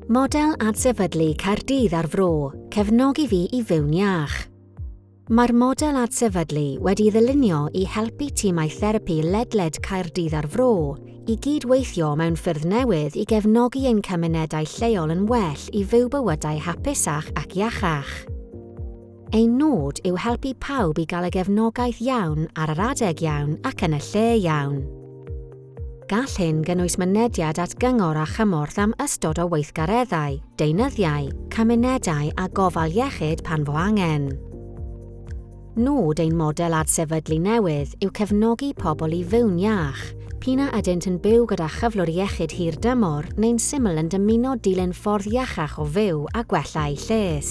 Model Adsefydlu Caerdydd a'r Fro, Cefnogi fi i fyw'n iach. Mae'r model adsefydlu wedi ddylunio i helpu timau therapi ledled Caerdydd a'r Fro i gyd-weithio mewn ffyrdd newydd i gefnogi ein cymunedau lleol yn well i fyw bywydau hapusach ac iachach. Ein nod yw helpu pawb i gael y gefnogaeth iawn ar yr adeg iawn ac yn y lle iawn. Gall hyn gynnwys mynediad at gyngor a chymorth am ystod o weithgareddau, deunyddiau, cymunedau a gofal iechyd pan fo angen. Nod ein model adsefydlu newydd yw cefnogi pobl i fyw'n iach, p'un a ydynt yn byw gyda chyflwr iechyd hir dymor neu'n syml yn dymuno dilyn ffordd iachach o fyw a gwella eu lles.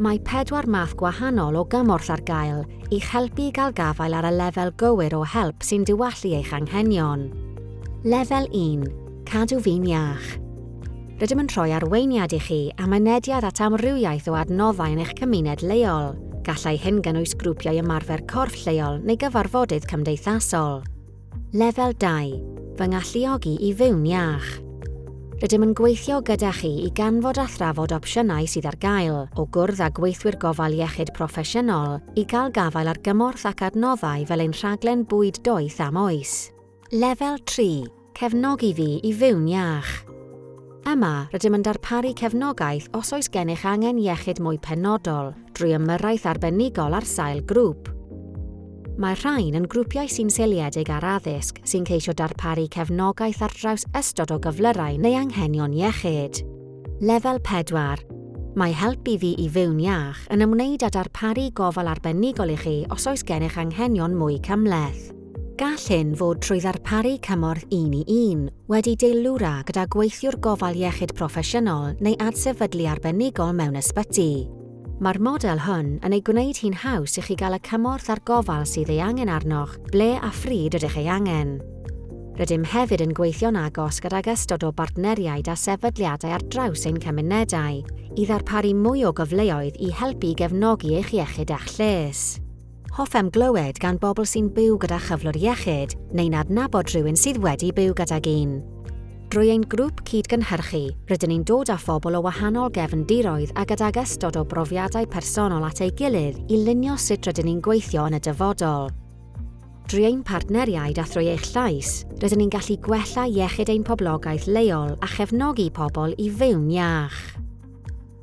Mae pedwar math gwahanol o gymorth ar gael, i'ch helpu i gael gafael ar y lefel gywir o help sy'n diwallu eich anghenion. Lefel 1, Cadw fi'n iach. Rydym yn rhoi arweiniad i chi a mynediad at amrywiaeth o adnoddau yn eich cymuned leol. Gallai hyn gynnwys grwpiau ymarfer corff lleol neu gyfarfodydd cymdeithasol. Lefel 2, Fy ngalluogi i fyw'n iach. Rydym yn gweithio gyda chi i ganfod a thrafod opsiynau sydd ar gael, o gwrdd â gweithwyr gofal iechyd proffesiynol, i gael gafael ar gymorth ac adnoddau fel ein rhaglen bwyd doeth am oes. Lefel 3, Cefnogi fi i fyw'n iach. Yma, rydym yn darparu cefnogaeth os oes gennych angen iechyd mwy penodol, drwy ymyrraeth arbenigol ar sail grŵp. Mae'r rhain yn grwpiau sy'n seiliedig ar addysg sy'n ceisio darparu cefnogaeth ar draws ystod o gyflyrau neu anghenion iechyd. Lefel 4, Mae Help i Fi i Fyw'n Iach yn ymwneud â darparu gofal arbenigol i chi os oes gennych anghenion mwy cymhleth. Gall hyn fod trwy ddarparu cymorth un-i-un, wedi deilwra gyda gweithiwr gofal iechyd proffesiynol neu adsefydlu arbenigol mewn ysbyty. Mae'r model hwn yn ei gwneud hi'n haws i chi gael y cymorth a'r gofal sydd ei angen arnoch ble a phryd ydych ei angen. Rydym hefyd yn gweithio'n agos gydag ystod o bartneriaid a sefydliadau ar draws ein cymunedau i ddarparu mwy o gyfleoedd i helpu i gefnogi eich iechyd a'ch lles. Hoffem glywed gan bobl sy'n byw gyda chyflwr iechyd neu'n adnabod rhywun sydd wedi byw gydag un. Drwy ein grŵp cyd-gynhyrchu, rydyn ni'n dod â phobl o wahanol gefndiroedd a gydag ystod o brofiadau personol at ei gilydd i lunio sut rydyn ni'n gweithio yn y dyfodol. Drwy ein partneriaid a thrwy eich llais, rydyn ni'n gallu gwella iechyd ein poblogaeth leol a chefnogi pobl i fyw'n iach.